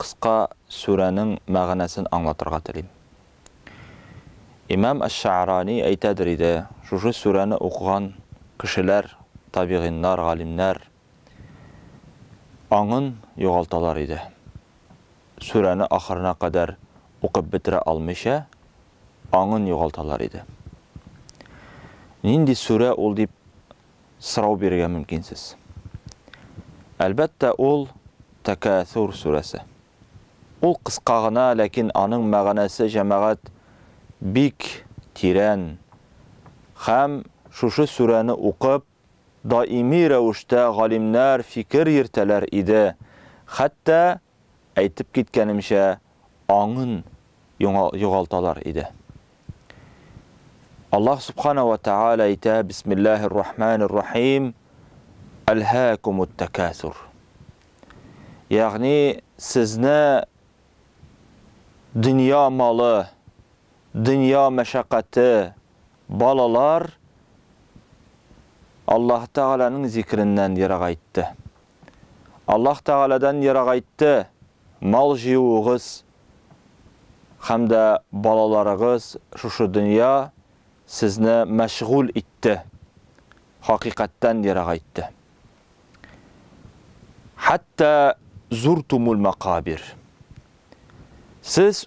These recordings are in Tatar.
Кыска сүрәнең мәгънәсен аңлатырга телим. Имам әш-Шәгърани әйтәдер иде, шушы сүрәне укыган кешеләр, табигиннар, галимнәр, аңын югалталар иде. Сүрәне ахырына кадәр укып бетерә алмыйча, аңын югалталар иде. Нинди сүрә ул дип сорау бирергә мөмкинсез. Әлбәттә, ул, Тәкәәсүр сүрәсе. Ул кыска гына, ләкин аның мәгънәсе, җәмәгать, бик тирән. Хәм, шушы сүрәне укып, даими рәвештә галимнәр фикер йөртәләр иде, хәтта Әйтеп киткәнемчә, аңын югалталар иде. Аллаһ Субхана вә Тәгалә әйтә, Бисмиллаһир Рахманир Рахим, Әлһәкумут тәкәсур. Ягъни, сезне дөнья малы, дөнья мәшәкате, балалар Аллаһ Тәгаләнең зикреннән ерагайтты. Аллаһ Тәгаләдән ерагайтты, мал җыюыгыз һәм дә балаларыгыз шушы дөнья сезне мәшгуль итте, хакыйкатьтән ерагайтты. Хәтта зуртумул макабир. Сез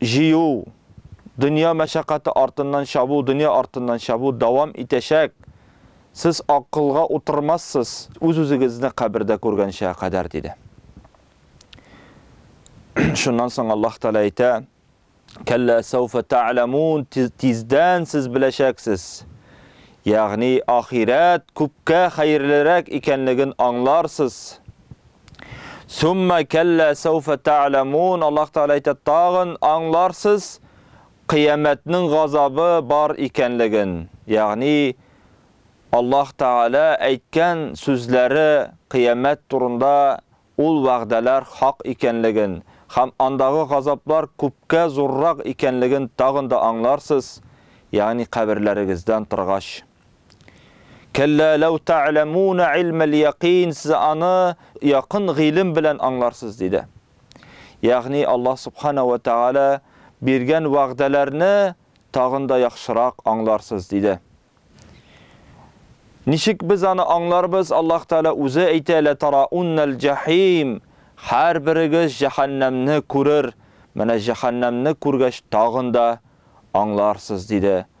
җыю, дөнья мәшәкате артыннан чабу, дөнья артыннан чабу дәвам итәчәк. Сез акылга утырмассыз, үз-үзегезне кабердә күргәнчегә кадәр, диде. Шуннан соң Аллаһ Тәгалә әйтә, Кәллә сәүфә тәгъламун, тиздән сез беләчәксез. Ягъни ахирәт күпкә хәерлерәк икәнлеген аңларсыз. Сумма кәллә сәуфә тәгъламун. Аллаһ Тәгалә әйтә, тагын аңларсыз кыямәтнең газабы бар икәнлеген. Ягъни Аллаһ Тәгалә әйткән сүзләре кыямәт турында ул вәгъдәләр хак икәнлеген һәм андагы газаплар күпкә зуррак икәнлеген тагын да аңларсыз, ягъни каберләрегездән торгач. Кәллә ләү тәгъләмүнә илмәл якин, сез аны якын гыйлем белән аңларсыз, диде. Ягъни Аллаһ субхана ва тәгалә биргән вәгъдәләрне тагын да яхшырак аңларсыз, диде. Ничек без аны аңларбыз? Аллаһ Тәгалә үзе әйтә, лә тарауннәл җәһим, һәр берегез җәһәннәмне күрер, менә җәһәннәмне күргәч тагын да аңларсыз, диде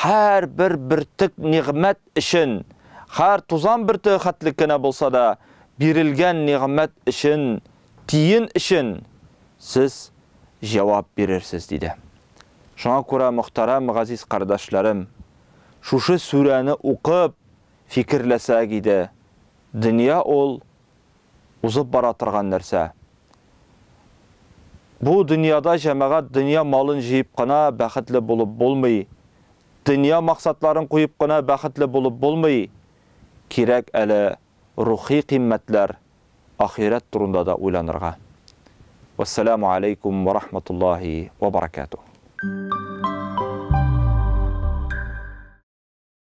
Һәр бер бөртек нигъмәт өчен, һәр тузан бөртеге хәтлек кенә булса да, бирелгән нигъмәт өчен, тиен өчен сез җавап бирерсез, диде. Шуңа күрә, мөхтәрәм газиз кардәшләрем, шушы сүрәне укып, фикерләсәк иде, дөнья ул узып бара торган нәрсә. Бу дөньяда җәмәгать дөнья малын җыеп кына бәхетле булып булмый, дөнья максатларын куеп кына бәхетле булып булмый, кирәк әле рухи кыйммәтләр, ахирәт турында да уйланырга. Вәссәламү аләйкүм вә рахматуллаһи вә баракәтүһ.